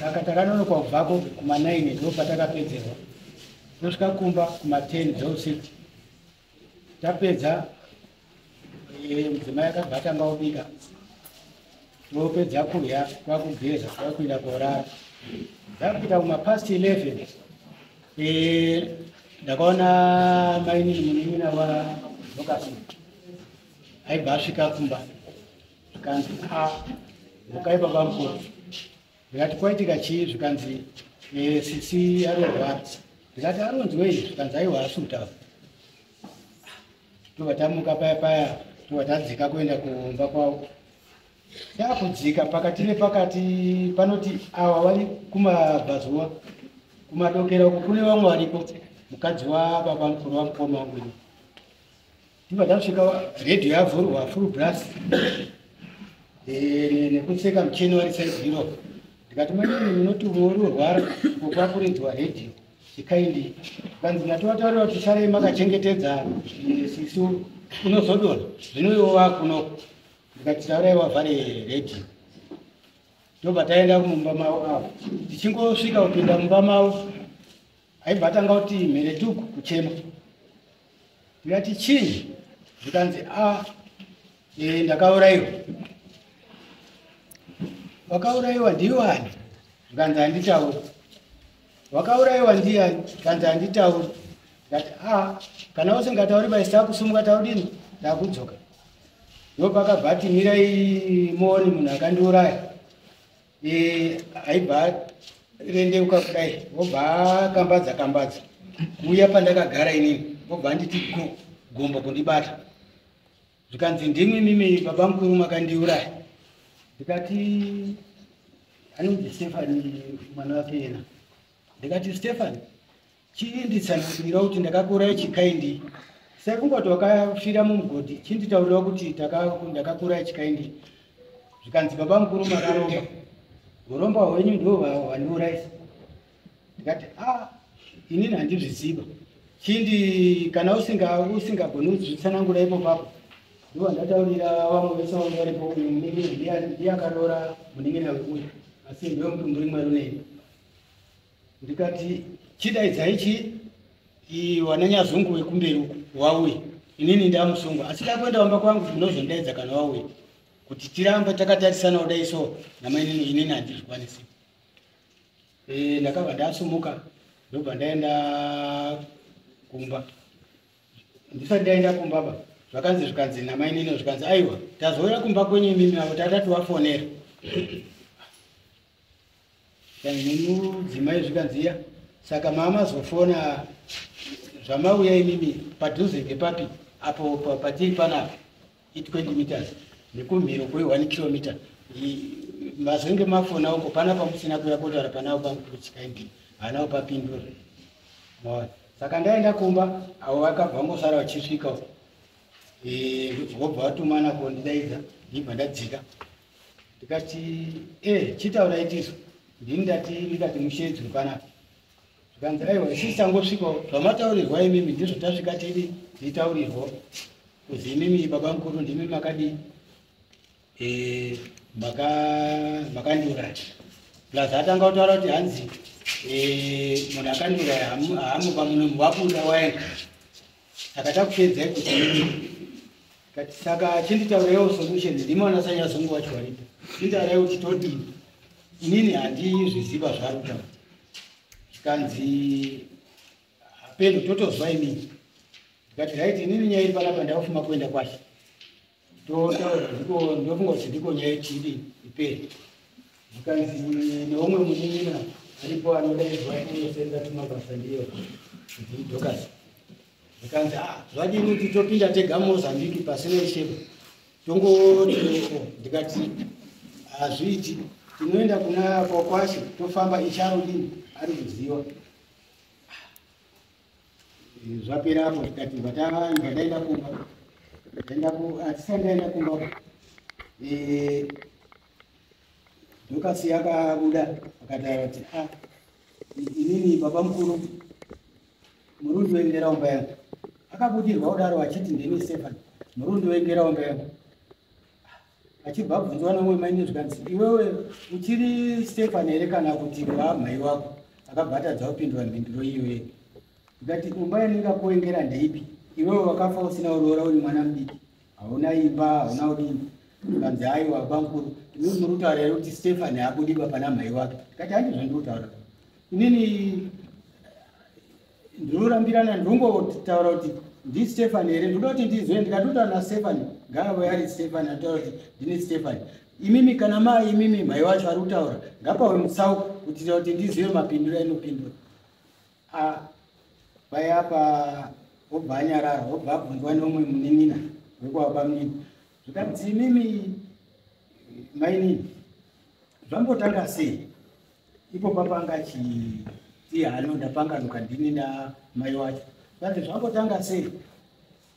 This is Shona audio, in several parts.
saka takanonoka kubvako kuma9 ndo patakapedzerwa tosvika kumba kuma10 dzeusiku tapedza eh, mudzimai akabva atanga kubika topedza kudya kwakugeza kwakuenda korara ndakuita kumapast 11 eh, ndakaona mainini munin'ina wa lokasi aibva asvika kumba zvikanzi a mukai baba mukuru ndikati kwaitika chii zvikanzi eh, sisi arorwara ndikati aronzwei zvikanzi aiwa asi kutaura tobva tamuka paya paya tobva tadzika kuenda kumba kwavo yakudzika pakati nepakati panoti awa vari kumabvazuva kumadokera uko kune vamwe variko mukadzi wababa mukuru wamukoma wangu Ndibva ndasvika radio yavhurwa full blast eh, nekuseka mucheni wari saizi iro ndikati mwanini munoti umwe uri urwara ukwakurinzwa radio chikaindi kanzi natovataurirwa kuti sarei makachengetedza eh, sisu unozodona zvino iwo vakuno ndikati taurai wavhare radio ndobva taenda mumba mavo avo tichingosvika kupinda mumba mavo aibva atanga kuti mheretuku kuchema ndikati chii zvikanzi a e, ndakaurayiwa wakaurayiwa ndiwani zvikanzi handitauri wakaurayiwa ndiyani zvikanzi handitauri ndikati a kana usingatauri bai sitakusumuka taudini ndakudzoka ndopakabva ati mirai muoni munhu akandiuraya aibva rendeuka kudai vobva akambadza kambadza kuuya pandakagara inini vobva anditi go gombo kundibata zvikanzi ndimi mimi baba mukuru makandiuraya ndikati anonzi stefani mwana wake yena ndikati stefani Chii nditsanangurira kuti ndakakuuraya chikaindi sai kungoti wakafira mumugodhi chii nditaurira kuti ndakakuuraya chikaindi zvikanzi baba mukuru makaromba uromba hwenyu ndiwo hwandiuraisa ndikati a ah, inini handizviziva chindi kana usingagoni kuzvitsanangura ipo papo ndiwo ndataurira vamwe vese vange varipo uyu muningiri ndiye akaroora muningina wekuya asi ndiwe mutumbi rimwe runei ndikati chidaidzai chii wananyazungu wekumberi uku wauye inini ndamusungwa asi kakuenda wamba kwangu ndinozondaidza kana wauye kuti tirambe takatarisana kudai so namainini inini handizvikwanisi e, ndakabva ndasumuka ndobva ndaenda kumba ndisati ndaenda kumba ba zvakanzi zvikanzi namainini zvikanzi aiwa tazoya kumba kwenyu imimi avo tatati wafonera dzimai zvikanziya saka mamazofona zvamauya imimi padhuze ngepapi apo patiri panapa i20 meters nekumhiro kwe 1 kilometer mazenge mafona uko pana pamusina kuya kotara panawo pamukurutsikaindi hanawo papindura maona saka ndaenda kumba avo vakabva ngosara vachisvika vobva vatumana kondidaidza ndibva ndadzika ndikati e eh, chitaura itiso ndini ndati ndikati mushedzi mupanapa zvikanzi aiwa isisi tangosvikawo zvamataurirwa imimi ndizvo tasvika tidi nditaurirwo kuzi imimi baba mukuru ndimi makadii eh, makandiuraya plus atanga kutaura kuti hanzi eh, munhu akandiuraya haamupa munomu wabuda waenda saka takupedzai kuti kati saka chinditauraiwo solution ndimo anasanya zungu wacho waripo chinditaurai kuti todii inini handizviziva zvaruta zvikanzi hapeno totozwa inini ndikati right inini nyaya iri panapa ndakufuma kuenda kwashe ndofunga kuti ndiko nyaya ichidi iperi zvikanzi neumwe munin'ina aripo anodaizwa kunosenza tumabasa ndiyo ndidokasi zvikanzi a ah, zvadini kuti topinda tega mozambiki pasina isheko tongotieko ndikati hazviiti tinoenda kuna kwakwashe tofamba icharudini ari kuziva zvapera apo tikati vatavanga ndaenda kumba ndaenda ku hatisai ndaenda kumba dhokasi yakabuda akataura kuti a ah, inini baba mukuru murundi woendera umba yangu akabudirwa kudaro achiti ndini stefan murundi woendera umba yangu achibva abvunzwa nomwe maine zvikanzi iwewe uchiri stefani here kana kuti vaamai wako akabva atadza kupindura mhinduro iyoye ndikati kumba yanenge akuengera ndeipi iwewe wakafa usina uroora uri mwana mudiki hauna imba hauna udini kanzi aiwa bankuru ini muri kutaura here kuti stefani akudiba pana mhai wake ndikati handi zvandiri kutaura inini ndinorambirana ndongotaura kuti ndistefani here ndoda kuti ndizwe ndikatotaura nastefani ngaave ari stefani anotaura kuti ndini stefani imimi kana mai imimi mai wacho ari kutaura ngapawe mutsauko kutira kuti ndizive mapindura inopindura a paya pa obva anyarara obva abvunzwa neumwe munin'ina wekuva pamunini zvikanzi imimi mainini zvambotanga sei ipo papanga chiti hano ndapanganuka ndini na mai wacho kanzi zvakotanga sei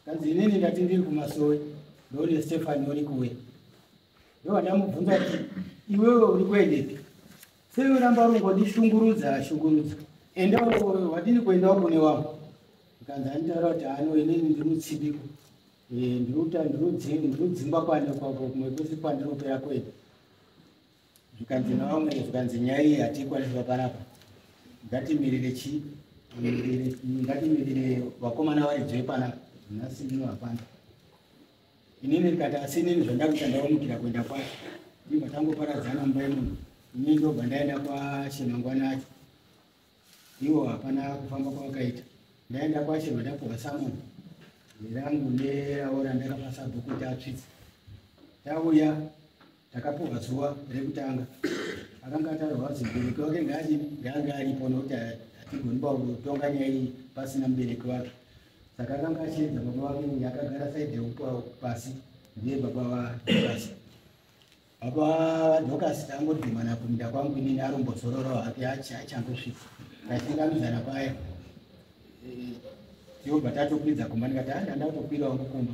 kanzi inini ndati ndiri kumasowe ndoone stefani uri kuwe ndovandamubvunza kuti iwewe uri kuendepi sei uramba rungondishungurudza shungurudza enda wadini kuendawo kune wangu kanzi anitaura kuti hano inini ndimutsibiko ndiruta ndirudzimba kwane kwako kumwe kwese kwandiropera kwene zvikanzi navamwe zvikanzi nyaya iyi hatiikwaniswa panapa ngatimirire chii ngatimirire vakomana varidzwe panapa nhasi ndino hapana inini ndikati asi inini zvandakuita ndaomukira kuenda kwacho ndibva tangoparadzana mumba yemunhu inini ndobva ndaenda kwashemangwana acho ivo hapana kufamba kwavakaita ndaenda kwacho vandapuhwa samoni rangu neraora ndakapasa bhuku kuti atsvitse tauya takapuhwa zuva rekutanga akanga ataurwa kuti mubereki wake ngaange aripo nokuti hatigoni pakutonga nyaya iyi pasina mubereki wake saka akanga achiedza baba vake uye akagara saidi yekupasi ndiye baba vadokasi baba vadokasi tangogimana kuminda kwangu inini arombozororo hake achangosvika tachingamidzana paya tiobva tatokwidza kumba ndikati andanda kutokwirawo mukumba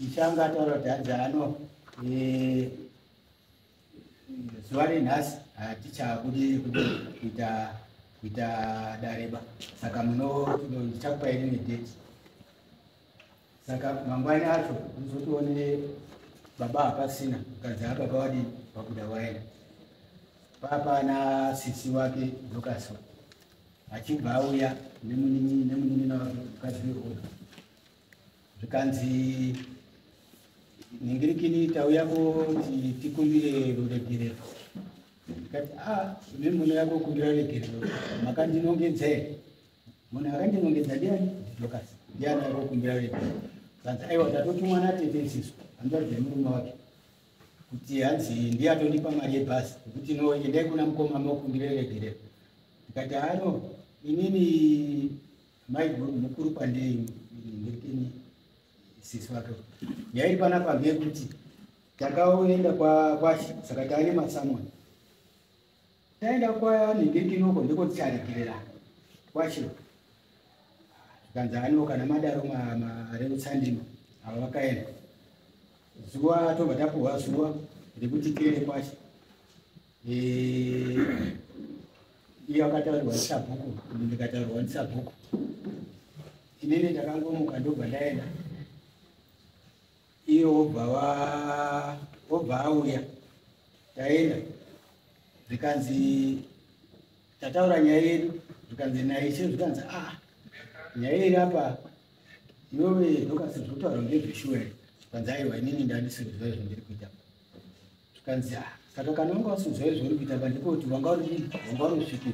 Mishanga ataura kuti hanzi ano eh, zuva renhasi hatichabude kuita kuita dareba saka ndichakupai rimwe date saka mangwani acho unozotione baba hapasina mukadzi ababa wadii vabuda waenda papana sisi wake dokaswa achibva auya nemunin'ina wake mukadzi wehoda zvikanzi nhingirikini tauyako tikumbire ruregerero ndikati a ah, imi muno yako kumbira ruregerero makandinongedza here munhu akandinongedza ndiani ndidocas ndiani yako kumbira ruregerero kanzi aiwa ndatotumwa natete isisu andoadza murume wake kuti hanzi ndiye atondipa mari yebhasi yekuti no endai kuna mukoma makumbira ruregerero ndikati ano ah, inini Mai mukuru pandei ndekeni sisi vake. Yairi pana pambe kuti takaenda kwa kwa saka taine masamwa. Taenda kwa ndingekinoko ndiko ticharegerera. Kwacho. Kanza ano kana madaro ma ma reutsandima ava vakaenda. Zuwa tobva tapuwa zuwa rekuti tiende kwacho. iyo akataurwa ndisabhuku ndikataurwa ndisabhuku inini ndakangomuka ndobva ndaenda iyo wobva wobva auya taenda zvikanzi tataura nyaya yedu zvikanzi naye che zvikanzi a ah, nyaya iri apa iwewe ndokasi zvokutaura ngezveshuwa zvikanzi aiwa inini ndandisirizwa izvo ndiri kuita zvikanzi ha saka kana wanga wasinzwa izvo uri kuita ba ndiko kuti wanga uri wanga uri usvipi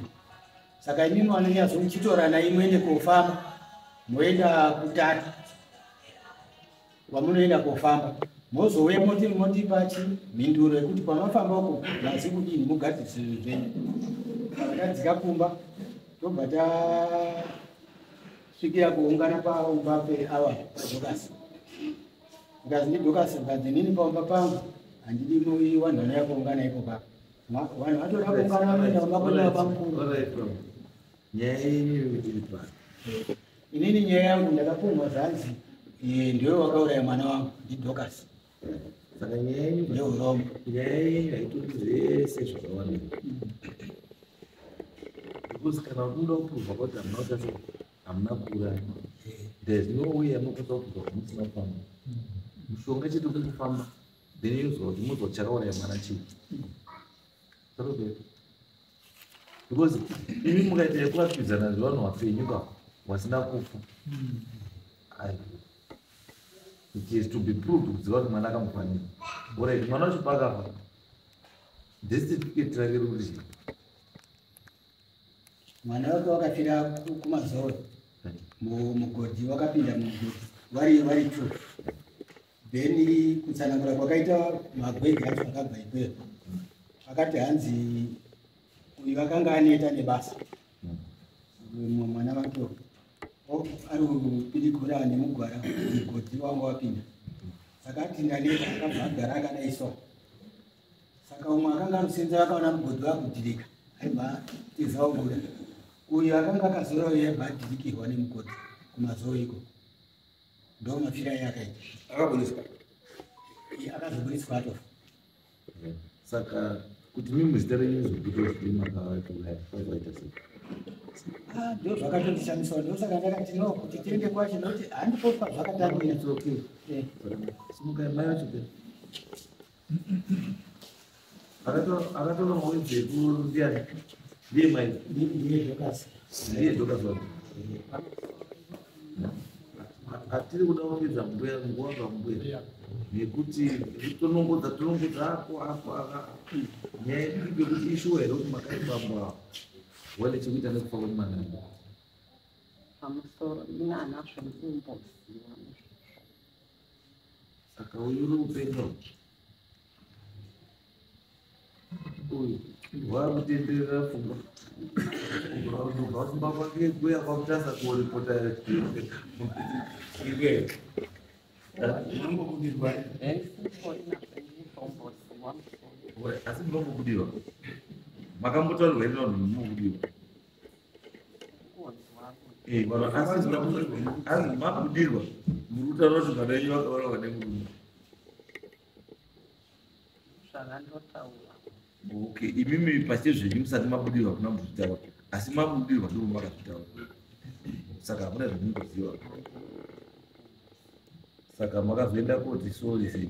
saka imimi wanonyazo muchitorana imwende kofamba moenda kutatu kwamunoenda kofamba mozouya moti motipa chi mhinduro yekuti kwamafamba uko mazi kudini mugadzirisa zvinhu zvenyu tadzika kumba tobva tasvikira kuungana paumba peawa zvokasi Ngazi ni doka se ngazi nini pa mba pangu. Andi ni mo yi wanda na ko ngana iko ba. Ma wanda wato na ko ngana mo na ba ko na ba ko. Nyaya ni ri pa. Ini ni nyaya yangu ndaka pumwa zanzi. Ye ndio wakaura ya mwana wangu ndi doka se. Saka nyaya ni ndio rombo. Nyaya ni haitu zese zvakawana. Kusikana kundo pumwa ko ta mauta se. hamuna kuuraya there's no way yamukuda kuda kuti musina kufamba mushonga chete kuti kufamba then yozwa kuti mozwa chakauraya mwana chii zvarovera because imi mukaita yekuvapfidzana zvevanhu vapenyu ka vasina kufa it is to be proved kuziva kuti mwana akamufanira orit mwana wacho paakafa destificate rake ruri chii mwana wake wakafira kumazoro mugodhi wakapinda mugodhi vari vari two then kutsanangura kwakaita magwege acho akabva ikweyo akati hanzi uyu akanga aneta nebasa mwana vake ari kupidikura nemugwara mugodhi wanga wapinda saka ati ndaneta akabva agara akadai so saka umwe akanga anosenzera akaona mugodhi wakudirika aibva tiza obuda uyo akanga akazora uyo aibva adirikirwa nemugodhi kumazoo iko ndo mafira aye akaita akaburiswa akazoburiswa atofa saka kuti mimwe zita renyu zokutozimakaakaita sei ah, ndo zvakatondishandiswa ndosaka ndakati no kuti tiende kwacho nokuti handipofa zvakatambira eh. simukai mai vacho akatora mawiri dzekundiyani ndiye mai ndiye dhokasi ndiye dhokasi wake hatiri kuda kuongedza mbuya nguva pambuya nekuti tonongodza tonongodza ako ako aka nyaya yedu yekuti ishuwa here kuti makati bambo avo wane chekuita nekufa kwemwana pamusoro ina anazvo ndimboziva saka uyu uri kupenga uyu waakutenderera pfungwa unobva kumba kwake kuya kwakutasa kuripota iwe unongobudirwa asi munombobudirwa makambotaurwa inonomubudirwa Eh, vanhu asi asi makudirwa muri kutaura kuti vana venyu vakavara vane murume okay imimi pasi zvenyu musati mabudirwa kuna muzvitaura asi mabudirwa ndiro makazvitaura saka hamuna zvamungoziva saka makazoenda koti sori sei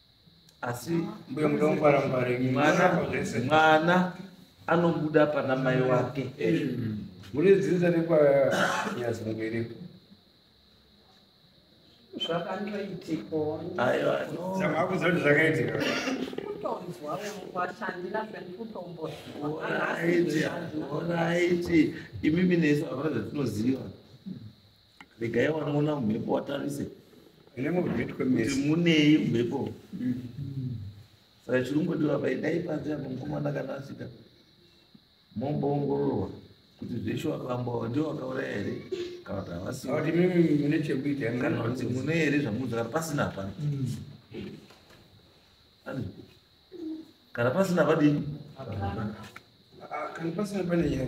asi mbuya mudongwarangware mwana mwana anobuda pana mai wake mune dzinza rekwanyazimubereko zvakanoitikaoraiti imimi nesu avana dzatinoziva regai wanoona mhepo watarise kuti munei mhepo saka chiri kungodiwa pai dai panze apo mukomana kana asvika momboongororwa kuti zveshe wakambova ndio wakauraya here kana kuti havasikanekutikana kuti mune here zvamuudza kana pasina hapana kana pasina padini kana pasina pane nyaya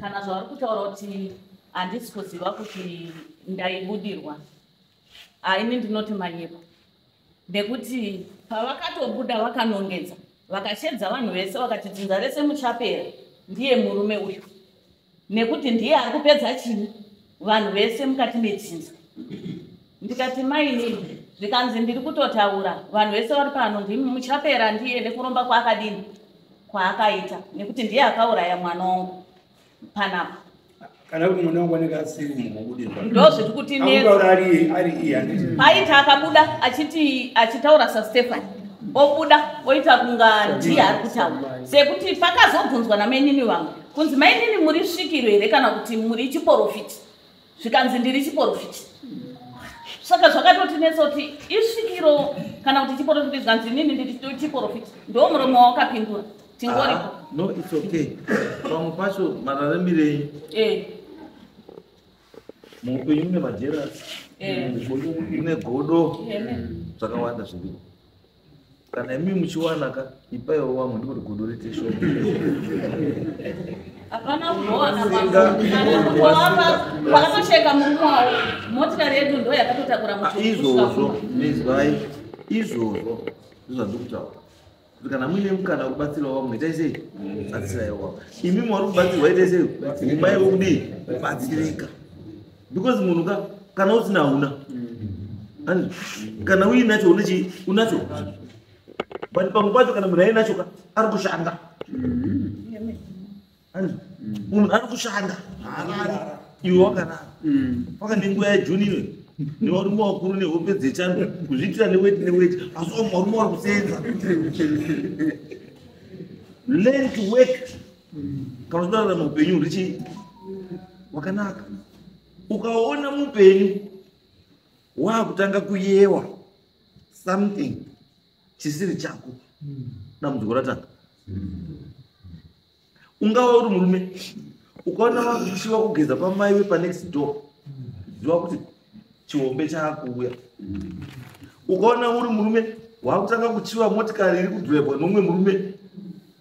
kana zvavari kutaura kuti handisi kuziva kuti ndaibudirwa haini ndinoti manyepo ndekuti pavakatobuda vakanongedza vakashedza vanhu vese vakati dzinza rese muchapera ndiye murume uyu nekuti ndiye ari kupedza chini vanhu vese mukati medzinza ndikati mainini zvikanzi ndiri kutotaura vanhu vese vari pano ndimi muchapera ndiye nekuromba kwaakadini kwaakaita nekuti ndiye akauraya mwana wangu panapa kana kuti mwana wangu anenge asiri mukubudirwa ndo zviri kuti paita akabuda achiti achitaura sastefani obuda oita kunga ndiye ari kutaura sekuti pakazobvunzwa namainini vangu kunzi mainini muri svikiro here kana kuti muri chiporofiti zvikanzi ndiri chiporofiti saka zvakatotinetsa kuti isvikiro kana kuti chiporofiti zvikanzi inini ndiri chiporofiti ndo murume wawakapindura tingoripo ah, no its okay pamwe pacho mararambirenyu eh. muupenyu mune majerasi eh. mune godo zvakawanda zviripo kana imi muchiwana ka ipaiwo wamwe ndikuti gudo rite shoma hapana kuona pakatosheka murume wavo motikari yedu ndo yakatotakura ah, izvozvo mizwai izvozvo ndozvandikutaura kuti kana muine mukana wekubatsirawo vamwe itai sei batsiraiwo vamwe imi mwari kubatsirwa itai sei mumai wekudii kubatsirika because munhu ka kana usina hauna mm. kana uinacho unechi unacho but pamwe pacho kana munhu ainacho ka ari kushanda mm. munhu ari kushanda haarari iwe wakarara mm. paka nenguva yajuni inoyo nevarume vakuru nehope dzechando kuzviitira neweti neweti asi vamwe varume vari kuseenza learn to work kana uchirarama upenyu hurichii wakanaka ukaona mupenyu waakutanga kuyewa something chisiri chako dambudziko ratanga ungava uri murume ukaona vakuchiva kugeza pamai wepanext door ziva kuti chihombe chaakuuya ukaona uri murume waakutanga kuchiva motikari iri kudhwebwa nomwe murume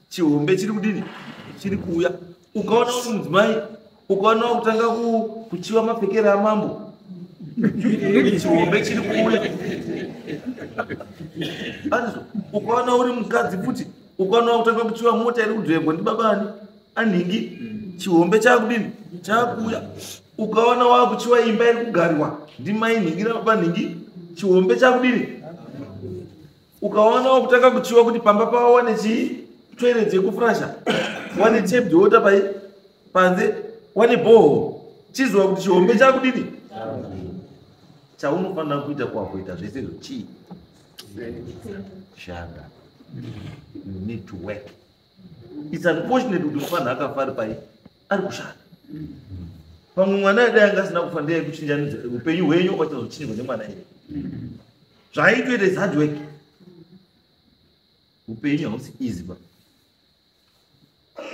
chihombe chiri kudini chiri kuuya ukaona kuti mudzimai ukaona kutanga kuchiva mapfekere amambo chihombe chiri kuuya anizvo ukaona uri mukadzi futi ukaona kutanga kuchiva mota iri kudrevwa ndibabani anhingi chihombe chakudini chakuuya ukaona wakuchiwa imba iri kugarwa ndimainhingi nababanhingi chihombe chakudini ukaona wakutanga kuchiwa kuti pamba pavo wane chii toilet yekufrasha wane tape water pai panze wane boho chiziva kuti chihombe chakudini chaunofanira kuita kwakuita zvese izvo chii shanda you need to work it's unfortunate kuti mufana akafa ari pai ari kushanda pamwe mwana dai anga asina kufa ndeye kuchinjanidza upenyu hwenyu kwachazochinjwa nemwana iye zvaaitoita is hard work upenyu hausi easy ba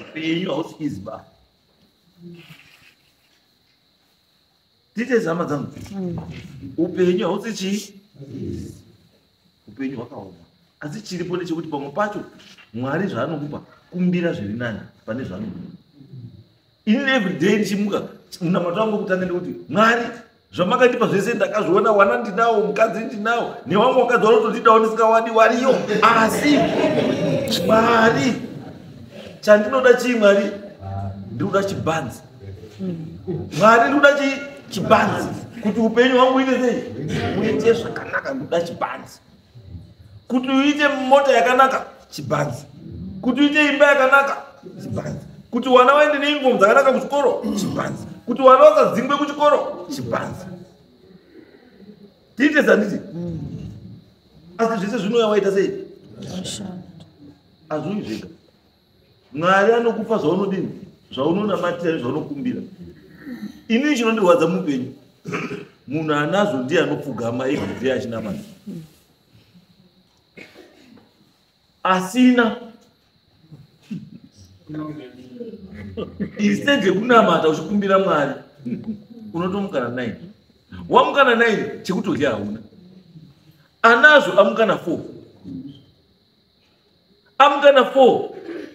upenyu hausi easy ba tite zama dzangu mm. upenyu hausi chii upenyu hwakaoma asi chiripo ndechekuti pamwe pacho mwari zvaanokupa kumbira zviri nani pane zvaanokupa in every day ndichimuka munamato wangu kutanga ndekuti mwari zvamakandipa zvese ndakazviona wana ndinawo mukadzi ndinawo newamwe wakadzi wanotondidawo ndisingawani wariyo asi mwari chandinoda chii mwari ndikuda chibanzi mwari ndikuda chibanzi kuti upenyu hwangu uite sei uite zvakanaka ndikuda chibanzi kuti uite mota yakanaka chibanzi kuti uite imba yakanaka chibanzi kuti wana waende neingomu dzakanaka kuchikoro chibanzi kuti wana wasadzingwe kuchikoro chibanzi tiite zanditi asi zvese zvinouya waita sei azviuyi zvega mwari anokupa zvaunodini zvaunonamatira zvaunokumbira inini chinondirwadza muupenyu munhu anazvo ndiye anopfugama iye achinamata asina instead yekunamata uchikumbira mwari unotomukana nine wamukana nine chekutodya hauna anazvo amukana four amukana four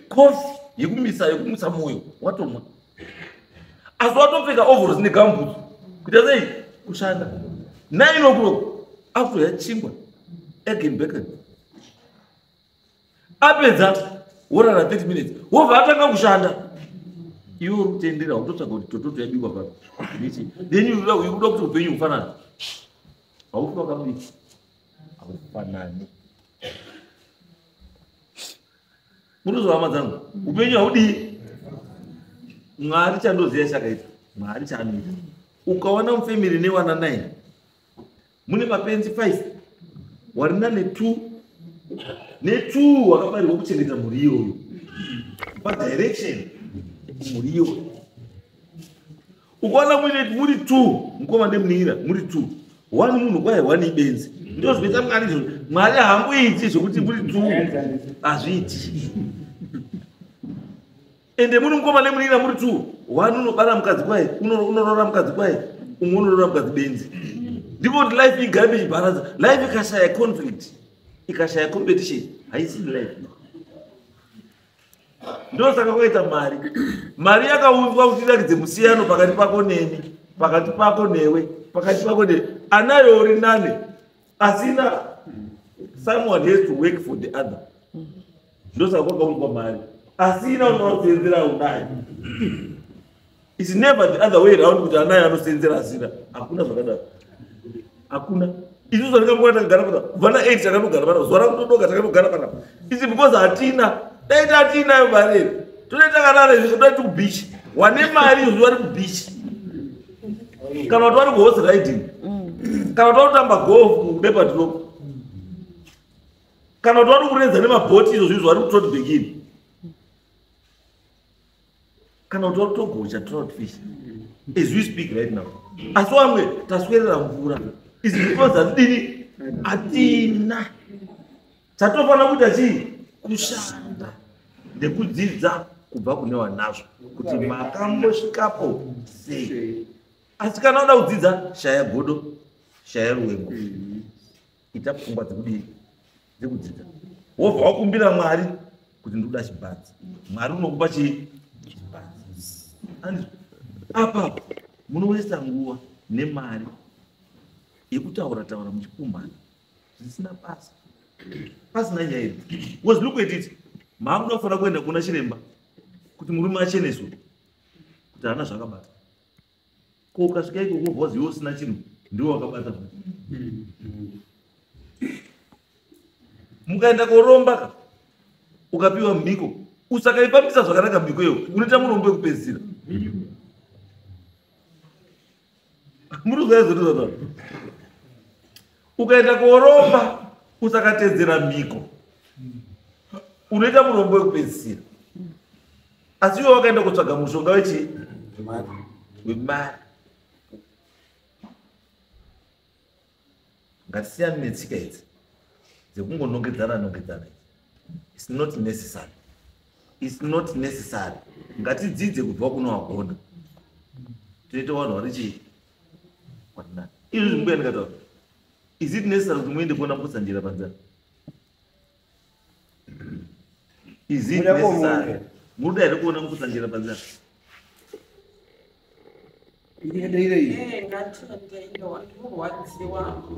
kofi yekumisa yekumutsa mwoyo watomwa asi watopfeka overos negambutsu kuita sei kushanda nine o'clock akutoya chingwa egenbecken apedza worara 30 minutes wobva atanga kushanda iwe uri kutendera utotsvaga kuti tototo yabikwa pa then uda kuti upenyu hufanana haufi wakamudii haufanani munozwa hama dzangu upenyu haudii mwari chandoziva chakaita mwari chaanoita ukawana mufamiri newana nine mune mapenzi five warina netwo netwo wakabarirwa kuchengeta mhuri iyoyo padirection mhuri iyoyo ukaona muine muri t mukoma nemunira muri t one munhu kwaye one ibenzi ndo zvinoita mwari izvo mwari hamuiti zvekuti muri t hazviiti ende muri mukoma nemunira muri t one unobara mukadzi kwaye unorora mukadzi kwaye umwe unorora mukadzi benzi ndiko kuti life igame ichibaradza life ikashaya conflict ikashaya competition haisi life ndosaka kwaita mari mari yakaunzwa kuti irakidze musiyano pakati pako neni pakati pako newe pakati pako newe anayo uri nane asina someone has to work for the other ndosaka kwakaunzwa mari asina unoakuseenzera unayo It's never the other way around kuti anaye anosenzera hazira hakuna zvakadaro hakuna isu zvandikamboa takagara pana kubva na eight takanogara pana zuva rakutodoka takanogara pana isi because hatina dai tatiinayo mari ere todai takarara izvi todai tikubichi wane mari izvi vari kubichi kana kuti vari kuhorse riding kana kuti vari kutamba golf kubepadrop kana kuti vari kurenza nemabhoti izvo zvinhu zvari kutotbekini kana kuti watogocha trout fish as we speak right now asi wamwe taswerera mvura izi because hatidini hatina chatofanira kuita chii kushanda nekudzidza kubva kune vanazvo kuti makambosvikapo sei asi kana uda kudzidza shaya godo shaya ruwemo mm -hmm. ita pfungwa dzekudii dzekudzidza wobva wakumbira mwari kuti ndikuda chibhanzi mwari unokupa chii chibhanzi apa munoisa nguva nemari yekutaura taura muchikumbana zvisina basa pasina nyaya iri was look at it maakuda kufanira kuenda kuna chiremba kuti murume acheneswe kuti haana zvakabata ko ukasvika iko kobhozi iwe usina chinhu ndiwo wakabata mukaenda koromba ka ukapiwa mhiko usakaipamisa zvakanaka mhiko iyo unoita murombo wekupedzisira muri zvaizotizaa ukaenda koromba usakatedzera mhiko unoita murombo wekupedzisira asi iwe wakaenda kutsvaga mushonga wechii wemari ngatisiyani netsika idzi dzekungonongedzana nongedzana its not necessary its not necessary ngatidzidze kubva kuno wagona toita vanhu vari chii izvo zvimbuya ndikataura is it necessary kuti muende kuona mukotsanjera panzara is it necessary muruda here kuona mukotsanjera panzara ndiendeirei